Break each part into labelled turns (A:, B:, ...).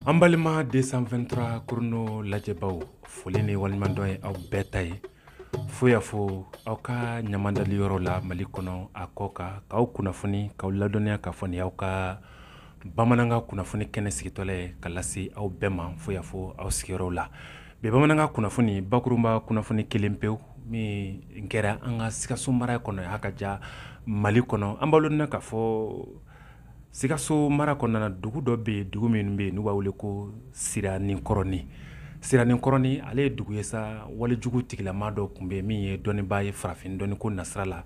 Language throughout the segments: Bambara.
A: An balima 223 Chrono lajɛbaaw foli ni waleɲumandɔn ye aw bɛɛ ta ye fo y'a fɔ aw ka ɲamadali yɔrɔ la mali kɔnɔ a kɔkan k'aw kunnafoni k'aw ladɔnniya ka fɔ ni aw ka bamanankan kunnafoni kɛnɛ sigitɔla ye ka lase aw bɛɛ ma fo y'a fɔ aw sigiyɔrɔ la bi bamanankan kunnafoni bakurunba kunnafoni kelen pe min kɛra an ka sikaso mara kɔnɔ y'a ka ja mali kɔnɔ an b'a na ka fɔ Sikaso mara kɔnɔna dugu dɔ bɛ yen dugu min bɛ yen n'u b'a wele ko siraninkɔrɔnin siraninkɔrɔnin ale ye dugu ye sa walejugu tigilama dɔ tun bɛ yen min ye dɔnnibaa ye farafin dɔnniko nasira la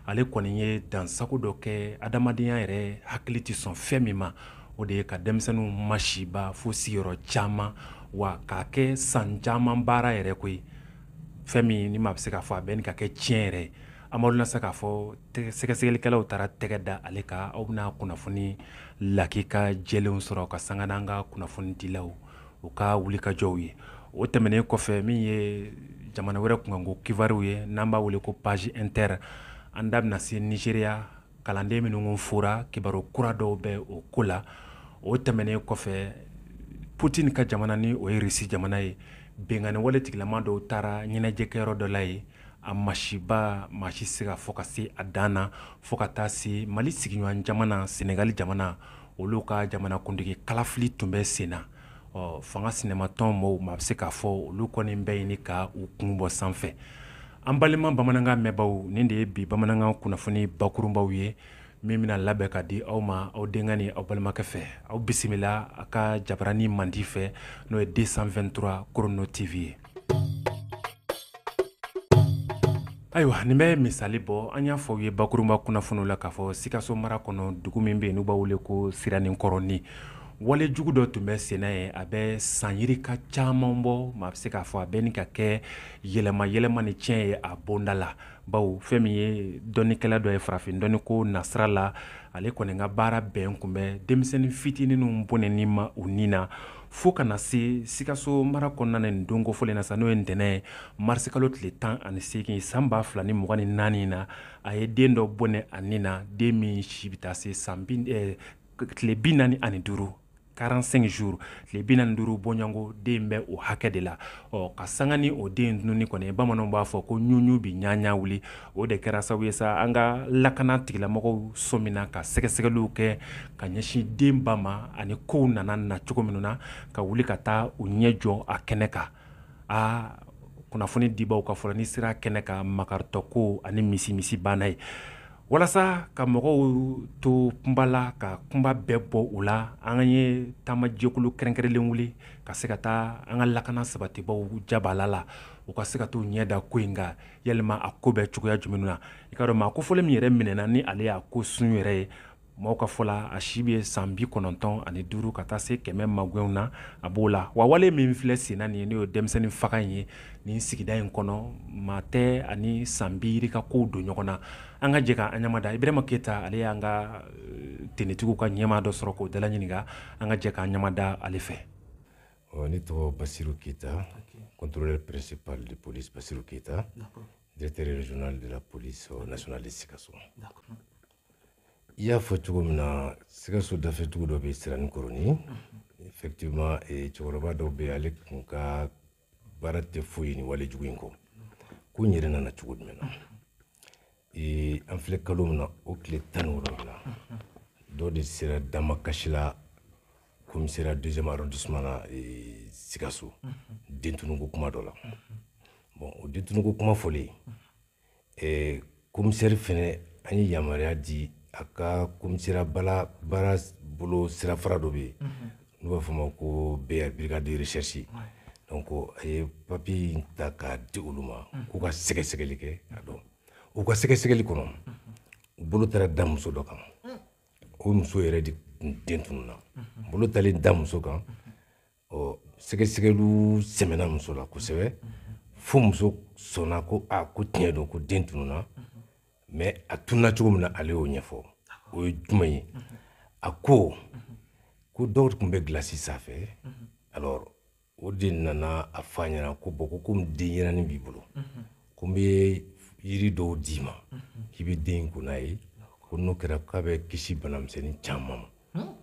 A: ale kɔni ye dansagon dɔ kɛ adamadenya yɛrɛ hakili tɛ sɔn fɛn min ma o de ye ka denmisɛnninw masiba fo sigiyɔrɔ caman wa k'a kɛ san caman baara yɛrɛ koyi fɛn min ni maa bɛ se k'a fɔ a bɛ ɲini ka kɛ tiɲɛ yɛrɛ Maa bɛna se k'a fɔ sɛgɛsɛgɛlikɛlaw taara tɛgɛ da ale kan aw bɛna kunnafoni lakika jɛlen sɔrɔ ka sanga ni an ka kunnafonidilaw u ka wulikajɔw ye o tɛmɛnen kɔfɛ min ye jamana wɛrɛ kunkanko kibaruw ye n'an b'a wele ko page inter an da bɛna se nizeriya kalanden minnu fɔra kibaru kura dɔw bɛ o ko la o tɛmɛnen kɔfɛ putini ka jamana ni o ye rusi jamana ye binkanni wale tigilama dɔw taara ɲɛnajɛkɛyɔrɔ dɔ la yen a masiba maa si se k'a fɔ ka se a dan na fo ka taa se mali sigiɲɔgɔn jamana senegali jamana olu ka jamanakuntigi kalafili tun bɛ sen na ɔ fanga sinamatɔn maaw maa bɛ se k'a fɔ olu kɔni bɛ ɲini ka u kun bɔ sanfɛ an balima bamanankan mɛnbaaw nin de ye bi bamanankan kunnafoni bakurunbaw ye min bɛna labɛn ka di aw ma aw denkɛ ni aw balimakɛ fɛ aw bisimila a ka jabaranin mandi fɛ n'o ye 223 Chrono TV ye Ayiwa nin bɛ misali bɔ an y'a fɔ u ye bakurunba kunnafoni la k'a fɔ sikaso mara kɔnɔ dugu min bɛ yen n'u b'a wele ko siraninkɔrɔnin walejugu dɔ tun bɛ sen na yen a bɛ san yirika caman bɔ maa bɛ se k'a fɔ a bɛ ɲini ka kɛ yɛlɛma yɛlɛma ni tiɲɛ ye a bonda la bawo fɛn min ye dɔnnikɛla dɔ ye farafin dɔnniko nasira la ale kɔni ka baara bɛn kun bɛ denmisɛnnin fitininw bɔnɛni ma u ni na fo ka na se sikaso mara kɔnɔna na nin don kofɔlen na sa n'o ye ntɛnɛn ye marisikalo tile tan ani seegin san ba fila ni mugan ni naani in na a ye den dɔ bɔnɛ a ni na den min si bɛ taa se san eh, tile bi naani ani duuru 45 jours tile bi naani duuru bɔɲɔgɔnko den bɛ o hakɛ de la ɔ ka sanga ni o den tununni kɔni bamananw b'a fɔ ko ɲuɲu bi ɲaɲa wuli o de kɛra sabu ye sa an ka lakana tigilamɔgɔw sɔmina ka sɛgɛsɛgɛliw kɛ ka ɲɛsin den ba ma ani kow nana na cogo minnu na ka wuli ka taa u ɲɛ jɔ a kɛnɛ kan aa kunnafoni dibaw ka fɔ la ni sera kɛnɛ kan makaritɔ ko ani misi misi banna ye walasa ka mɔgɔw to kunpa la ka kunpa bɛɛ bɔ u la an ye taamajɛkulu kɛrɛnkɛrɛnlen wuli ka se ka taa an ka lakana sabatibaw jabaala la u ka se ka taa u ɲɛ da ko in kan yalima a ko bɛ cogoya jumɛn na i k'a dɔn maa ko fɔlen min yɛrɛ minɛna ni ale y'a ko sun yɛrɛ ye mɔgɔw ka fɔ la a si bɛ ye san bi kɔnɔntɔn ani duuru ka taa se kɛmɛ maw na a b'o la wa wale min filɛ senna nin ye n'o ye denmisɛnnin faga in ye nin sigida in kɔnɔ maa tɛ ani san biri ka ko don ɲɔgɔn na an ka jɛ k'an ɲamada ibrahima keyita ale y'an ka tenitigiw ka ɲɛmaa dɔ sɔrɔ k'o dala ɲininka an ka jɛ k'an ɲamada ale fɛ ɔ
B: ne tɔgɔ basiru keyita contrôleur principal de police basiru keyita directeur régional de la police nationale de sikaso i y'a fɔ cogo min na sikaso dafɛdugu dɔ bɛ siraninkɔrɔni effectivement eh, cɛkɔrɔba dɔ bɛ ale kun ka baara tɛ foyi ni wale jugu in kɔ ko in yɛrɛ nana cogo jumɛn na eh, an filɛ kalo min na o tile tan ni wolonwula dɔ de sera damakasi la komisɛriya deuxième arrondissement na eh, sikaso dentunuko kuma dɔ la bon o dentunuko kuma fɔlen eh, komisɛri fɛnɛ a ye yamaruya di a ka komisɛriya bala baara bolo sirafara dɔ bɛ yen n'u b'a fɔ a ma ko br brigade de recherche donc a ye papiye in ta k'a di olu ma k'u ka sɛgɛsɛgɛli kɛ a dɔn u ka sɛgɛsɛgɛli kɔnɔ u bolo taara da muso dɔ kan o muso yɛrɛ de tun den tununa bolo taalen da muso kan ɔ sɛgɛsɛgɛliw sɛmɛna muso la kosɛbɛ fo muso sɔnna ko a ko tiɲɛ don ko den tununa mais a tununa cogo min na ale y'o ɲɛfɔ o ye jumɛn ye a ko ko dɔ tun bɛ gilasi san a fɛ alors o de nana a fɔ a ɲɛna ko bon ko komi denyɛrɛnin b'i bolo ko n bɛ yiri dɔw d'i ma k'i bɛ den in ko n'a ye ko n'o kɛra k'a bɛ kisi banamisɛnnin caman ma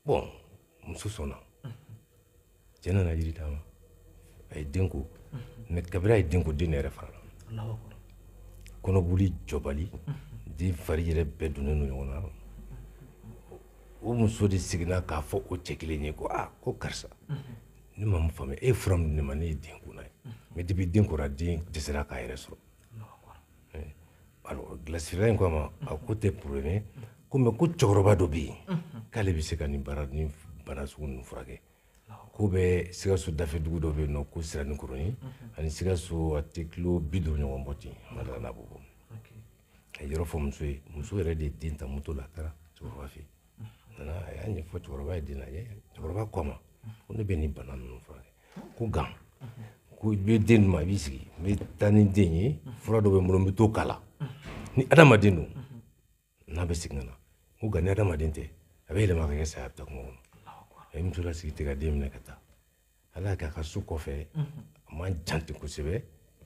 B: bon muso sɔnna cɛ nana yiri d'a ma a ye den ko mais kabiri a ye den ko den yɛrɛ fara la kɔnɔboli jɔbali den fari yɛrɛ bɛɛ donnen don ɲɔgɔn na o muso de seginna k'a fɔ o cɛ kelen ye ko aa ko karisa ne ma faamuya e ye fura min di ne ma ne ye den ko n'a ye mais depuis den kora den dɛsɛra k'a yɛrɛ sɔrɔ alors gilasifeerela in ko a ma a ko tɛ problème ko mais ko cɛkɔrɔba dɔ bɛ yen k'ale bɛ se ka nin baara ni bana sugu ninnu furakɛ ko bɛ sikaso dafɛ dugu dɔ bɛ yen nɔ ko siranikɔrɔni ani sikaso a tɛ kilo bi duuru ɲɔgɔn bɔ ten ma d'a la n'a b'o bɔ a ye yɔrɔ fɔ muso ye muso yɛrɛ de ye den ta moto la a taara cɛkɔrɔba fɛ yen nana a y'a ɲɛfɔ cɛkɔrɔba ye den lajɛ cɛkɔrɔba ko a ma ko ne bɛ nin bana ninnu furakɛ ko nka ko i bɛ den ma i b'i sigi n bɛ taa ni den ye fura dɔ bɛ n bolo n bɛ t'o k'a la ni adamaden don a bɛ segin ka na ko nka ni adamaden tɛ a bɛ yɛlɛma ka kɛ sa ye a bɛ taa kungo kɔnɔ a ye muso lasigi ten ka den minɛ ka taa ala y'a kɛ a ka so kɔfɛ a man jan ten kosɛbɛ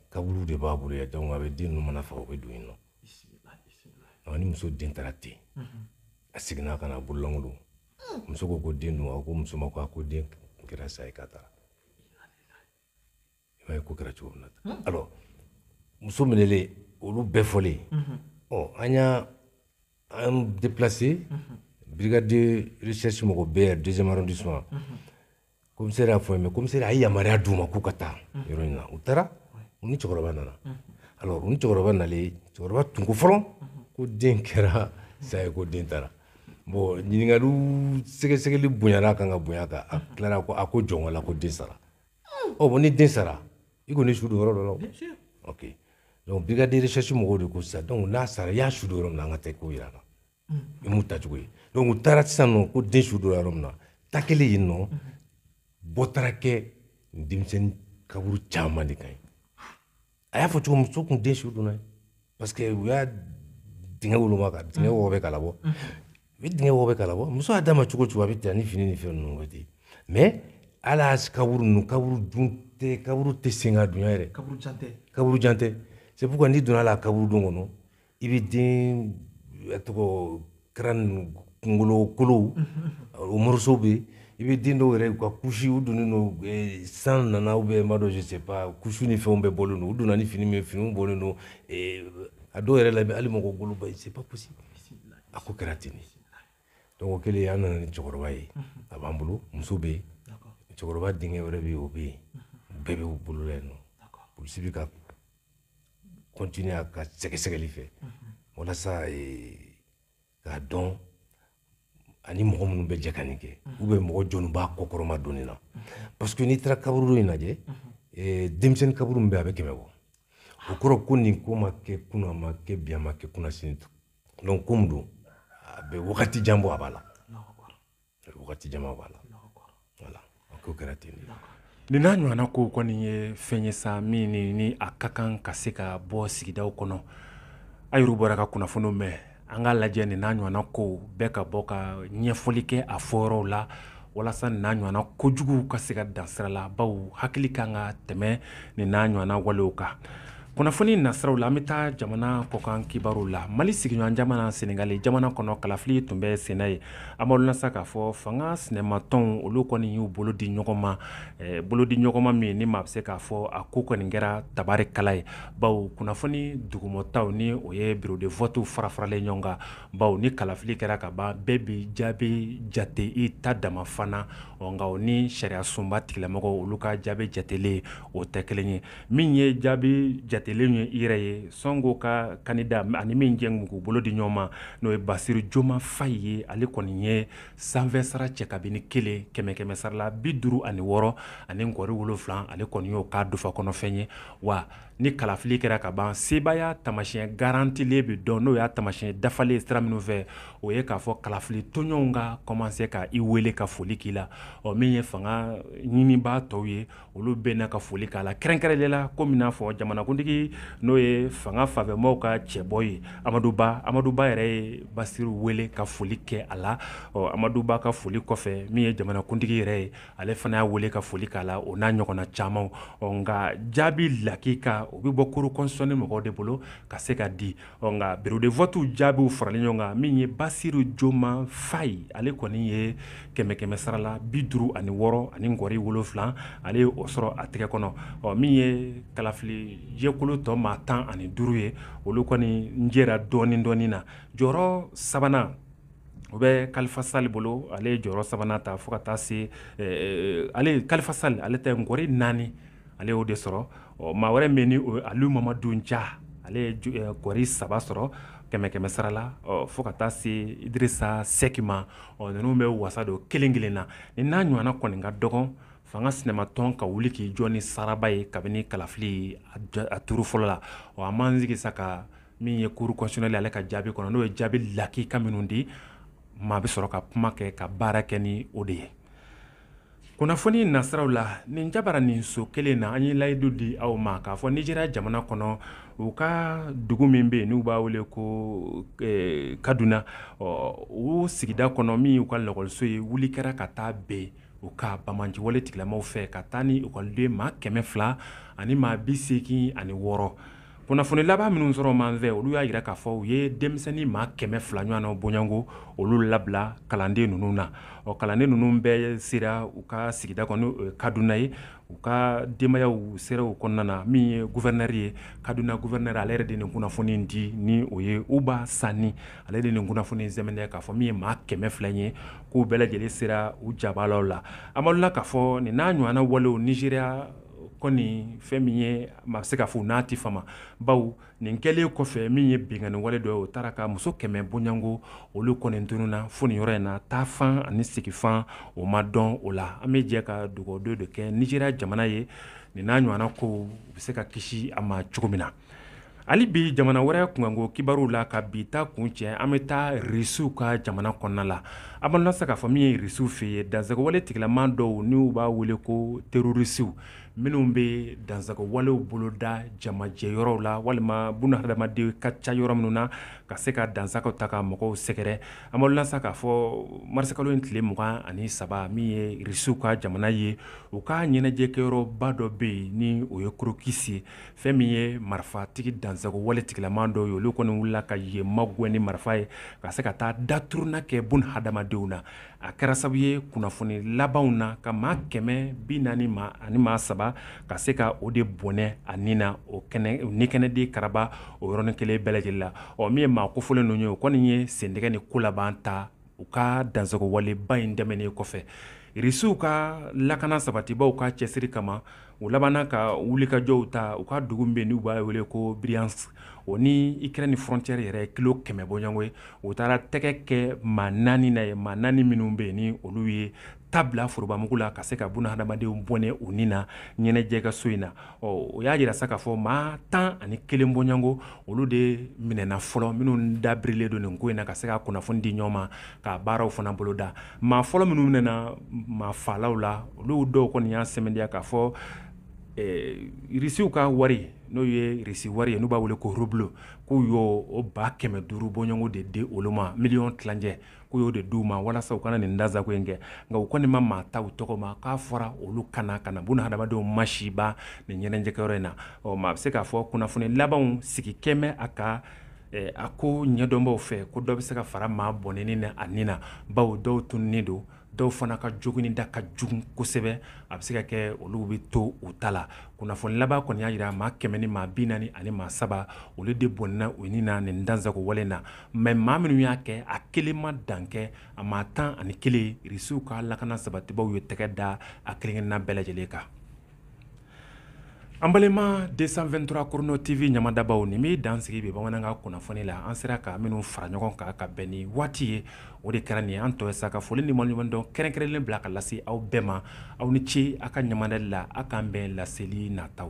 B: kaburu de b'a bolo yan donc a bɛ den ninnu mana faga u bɛ don yen nɔ ni muso den taara ten a seginna ka na a bololankolon muso ko ko den dun a ko muso ma ko a ko den kɛra sa ye k'a taara i b'a ye ko kɛra cogo min na tan alors muso minɛlen olu bɛɛ fɔlen ɔ an y'an déplacé brigade de recherche mɔgɔ bɛɛ deuxième arrondissement komisɛri y'a fɔ ye mais komisɛri a ye yamaruya d'u ma k'u ka taa yɔrɔ in na u taara u ni cɛkɔrɔba nana alors u ni cɛkɔrɔba nalen cɛkɔrɔba tun ko fɔlɔ ko den kɛra sa ye ko den taara bon ɲininkaliw sɛgɛsɛgɛli bonyana a kan ka bonya a kan a tilara ko a ko jɔn la ko den sara ɔ bon ni den sara i kɔni su don yɔrɔ dɔ la ok donc brigade de recherche mɔgɔw de ko sisan donc n'a sara i y'a su don yɔrɔ min na an ka taa i k'o yira an na i m'u taacogo ye donc u taara sisan nɔ ko den su don yɔrɔ min na taa kɛlen yen nɔ bɔ taara kɛ denmisɛnnin kaburu caman de kan ye a y'a fɔ cogo muso kun den su donna ye parce que u y'a dingɛ woloma ka dingɛ wɔgɔbɛ k'a labɔ u bɛ dingɛ wɔgɔbɛ k'a labɔ muso y'a d'a ma cogo o cogo a bɛ ten ni fini ni fɛn ninnu bɛ ten mais ala kaburu ninnu kaburu dun tɛ kaburu tɛ sen ka dunya yɛrɛ kaburu jan tɛ kaburu jan tɛ c'est pourquoi n'i donna la kaburudo kɔnɔ i bɛ den tɔgɔ kɛra kungolokolo o morceau bɛ yen i bɛ den dɔw yɛrɛ ka couche u donnen don san nana ou bien n m'a dɔn c'est couche ni fɛnw bɛɛ bɔlen don u donna ni fini min finiw bɔlen don a dɔw yɛrɛ la bɛ hali mɔgɔ golo b'a c'est pas possible a ko kɛra ten donc o kɛlen an nana ni cɛkɔrɔba ye a b'an bolo muso bɛ yen cɛkɔrɔba denkɛ wɛrɛ bɛ yen o bɛ yen bɛɛ b'u bolo la yen nɔ polisi bɛ ka continuer a ka sɛgɛsɛgɛli fɛ walasa k'a dɔn ani mɔgɔ minnu bɛ jɛ ka nin kɛ ou bien mɔgɔ jɔni b'a kɔkɔrɔmadonni na parce que n'i taara kaburudo in lajɛ denmisɛnnin kaburu min bɛ yen a bɛ kɛmɛ bɔ o kɔrɔ ko nin ko ma kɛ kunun a ma kɛ bi a ma kɛ kunasini donc ko min don a bɛ wagati jan bɔ a b'a la wagati jan b'a la voilà a ko kɛra ten de nin n'a
A: ɲɔgɔnna kow kɔni ye fɛn ye sa min ni ni a ka kan ka se ka bɔ sigidaw kɔnɔ a yɛrɛw bɔra ka kunnafoniw mɛn an k'a lajɛ nin n'a ɲɔgɔnna kow bɛɛ ka bɔ ka ɲɛfɔli kɛ a fɔyɔrɔw la walasa nin n'a ɲɔgɔnna kojuguw ka se ka dan sira la bawo hakili kan ka tɛmɛ nin n'a ɲɔgɔnna walew kan kunnafoni nasiraw la an bɛ taa jamana kɔkan kibaru la mali sigiɲɔgɔn jamana senegali jamana kɔnɔ kalafili tun bɛ sen na yen an b'a dɔn sa k'a fɔ fanga sinamatɔnw olu kɔni y'u bolo di ɲɔgɔn ma bolodiɲɔgɔnma min ni maa bɛ se k'a fɔ a ko kɔni kɛra tabarikala ye bawo kunnafoni dugumata ni o ye biro de vɔtu farafaralen ɲɔgɔn kan bawo ni kalafili kɛra ka ban bɛɛ bɛ jaabi jate i ta dama fana nka o ni sariya sunba tigilamɔgɔw olu ka jaabi jatelen o tɛ kelen ye min ye jaabi jatelen in yɛrɛ ye sɔnko ka kandida ani min jɛ tun k'u bolo di ɲɔgɔn ma n'o ye basiru joma fayi ye ale kɔni ye sanfɛ sara cɛ kabini kelen kɛmɛ kɛmɛ sara la bi duuru ani wɔɔrɔ ani nkɔri wolonfila ale kɔni y'o k'a dufa kɔnɔfɛn ye wa ni kalafili kɛra ka ban sebaaya tamasiɲɛ garantilen bɛ dɔn n'o y'a tamasiɲɛ dafalen sira minnu fɛ o ye k'a fɔ kalafili tɔnɲɔgɔnw ka kɔmanse k'i weele ka foli k'i la ɔ min ye fanga ɲinibaa tɔw ye olu bɛ na ka foli k'a la kɛrɛnkɛrɛnlen la komi n'a fɔ jamanakuntigi n'o ye fanga fanfɛmaaw ka cɛbɔ ye amadu ba amadu ba yɛrɛ ye basiru wele ka foli kɛ a la ɔ amadu ba ka foli kɔfɛ min ye jamanakuntigi yɛrɛ ye ale fana y'a weele ka foli k'a la o n'a ɲɔgɔnna caman ɔ nka jaabi lakika o bɛ bɔ kuru kɔnsiyɔnɛli mɔgɔw de bolo ka se ka di ɔ nka biro de vɔtuw jaabiw faralen ɲɔgɔn kan min ye basiru joma fayi ale kɔni ye kɛmɛ kɛmɛ sara la bi duuru ani wɔɔrɔ ani nkɔri wolonfila ale ye o sɔrɔ a tɛgɛ kɔnɔ ɔ min ye kalafili jɛkulu tɔ maa tan ani duuru ye olu kɔni jɛra dɔɔnin dɔɔnin na jɔyɔrɔ sabanan o bɛ kalifa sali bolo ale ye jɔyɔrɔ sabanan ta fo ka taa se eh, eh, ale kalifa sali ale tɛ nkɔri naani ale y'o de sɔrɔ ɔ maa wɛrɛ min ni o ye aliyu mamadu ja ale ye ju- eh, nkɔri saba sɔrɔ kɛmɛ kɛmɛ sara la ɔ, fo ka taa se idirisa sɛki ma ɔ, ninnu bɛ wasa don kelen kelen na nin n'a ɲɔgɔnna kɔni ka dɔgɔn fanga sinamatɔn ka wuli k'i jɔ ni saraba ye kabini kalafili a ja- a turu fɔlɔ la ɔ, an b'an sigi sa ka min ye kuru kɔnsiyɔnɛli ale ka jaabi kɔnɔ n'o ye jaabi lakika minnu di maa bɛ sɔrɔ ka kuma kɛ ka baara kɛ ni o de ye kunnafoni nasiraw la nin jabaranin so kelen na an ye layidu di aw ma k'a fɔ nizeriya jamana kɔnɔ u ka dugu min bɛ yen n'u b'a wele ko eh, kaduna o sigida kɔnɔ min y'u ka lakɔliso ye wuli kɛra ka taa bɛn u ka banbaanciwale tigilamaw fɛ ka taa ni ekɔliden maa kɛmɛ fila ani maa bi seegin ani wɔɔrɔ kunnafoni laban minnu sɔrɔla an fɛ olu y'a jira k'a fɔ u ye denmisɛnnin maa kɛmɛ fila ɲɔgɔnna bɔɲɔgɔnko olu labila kalanden ninnu na ɔ kalanden ninnu bɛɛ sera u ka sigida kɔnɔ kaduna ye u ka denbayaw sera u kɔnɔna na min ye gufɛrinɛri ye kaduna gufɛrinɛri ale yɛrɛ de nin kunnafoni di ni o ye uba sani ale de nin kunnafoni in sɛmɛntiya k'a fɔ min ye maa kɛmɛ fila ye k'u bɛɛ lajɛlen sera u jabalaw la amadudu k'a fɔ nin n'a ɲɔgɔnna walew nizeriya kɔni fɛn min ye maa bɛ se k'a fɔ u n'a tɛ fama bawo nin kɛlen kɔfɛ min ye binkanni wale dɔ o taara ka muso kɛmɛ bɔɲɔgɔnko olu kɔni tununna fo nin yɔrɔ in na taa fan ani sigifan o ma dɔn o la an bɛ jɛ ka dugawudon de kɛ nizeriya jamana ye nin n'a ɲɔgɔnna ko u bɛ se ka kisi a ma cogo min na Hali bi jamana wɛrɛ kunkanko kibaruw la ka bi ta kuncɛ an bɛ taa Irisiw ka jamana kɔnɔna la, an b'an lase k'a fɔ min ye Irisiw fɛ yen, dansagowale tigilama dɔw n'u b'a wele ko terorisiw minnu bɛ dansagowalew boloda jamajɛ yɔrɔw la walima buna hadamaden ka ca yɔrɔ minnu na ka se ka dansagow ta ka mɔgɔw sɛgɛrɛ, an b'aw lasa k'a fɔ marisikalo in tile mugan ani saba min ye Irisiw ka jamana ye, u ka ɲɛnajɛkɛyɔrɔba dɔ bɛ yen ni o ye Crocus ye fɛn min ye marifatigi dansago wale tigilama dɔw ye olu kɔni wulila ka yen magɛn ni marifa ye ka se ka taa daturuna kɛ buna hadamadenw na a kɛra sababu ye kunnafoni labanw na ka maa kɛmɛ bi naani ani maa saba ka se ka o de bɔnɛ a ni na o ni kɛnɛ de karaba o yɔrɔnin kelen bɛɛ lajɛlen la ɔ min ye maa kofɔlen ninnu ye o kɔni ye sendɛgɛ ni ko laban ta u ka dansagowaleba in tɛmɛnen kɔfɛ irisiw ka lakana sabatibaw ka cɛsiri kama u labanna ka wulikajɔw ta u ka dugu min bɛ n'u b'a wele ko briansk o ni ikrɛni frɔntiyɛri yɛrɛ kilo kɛmɛ bɔɲɔgɔnko ye u taara tɛgɛ kɛ maa naani na yen maa naani minnu bɛ yen ni olu ye ta bila forobamugu la ka se ka buna hadamadenw bɔnɛ u ni na ɲɛnajɛkɛso in na o y'a jira sa k'a fɔ maa tan ani kelen bɔɲɔgɔnko olu de minɛna fɔlɔ minnu dabirilen don nin ko in na ka se ka kunnafoni di ɲɔgɔn ma ka baaraw fana boloda maa fɔlɔ minnu minɛna maa faalaw la olu dɔw kɔni y'a sɛmɛndiya k'a fɔ eh, irisiw ka wari n'o ye irisi wari ye n'u b'a wele ko rublo k'u y'o ba kɛmɛ duuru bɔɲɔgɔnko de di olu ma miliyɔn tilancɛ k'u y'o de d'u ma walasa u ka na nin dansago in kɛ nka u kɔni ma maa ta u tɔgɔ ma k'a fɔra olu ka na ka na buna hadamadenw masiba nin ɲɛnajɛkɛyɔrɔ in na ɔ maa bɛ se k'a fɔ kunnafoni labanw sigi kɛmɛ a ka eh, a ko ɲɛdɔnbaw fɛ ko dɔ bɛ se ka fara maa bɔnɛnen a ni na bawo dɔw tununnen don dɔw fana ka jogin da ka jugu kosɛbɛ a bɛ se ka kɛ olu bɛ to u ta la kunnafoni laban kɔni y'a jira maa kɛmɛ ni maa bi naani ani maa saba olu de bɔnna u ni na nin dansago wale na mais maa minnu y'a kɛ a kelen ma dan kɛ a maa tan ani kelen risiw ka lakana sabatibaw ye tɛgɛ da a kelenkelenna bɛɛ lajɛlen kan An balima deux cent vingt-trois Chrono TV ɲamadabaw nin bɛ dan sigi bi bamanankan kunnafoni la an sera ka minnu fara ɲɔgɔn kan ka bɛn ni waati ye o de kɛra nin an tɔ ye sa ka foli ni waleɲumandɔn kɛrɛnkɛrɛnnen bila ka lase aw bɛɛ ma aw ni ce aw ka ɲamadali la aw k'an bɛn laseli nataw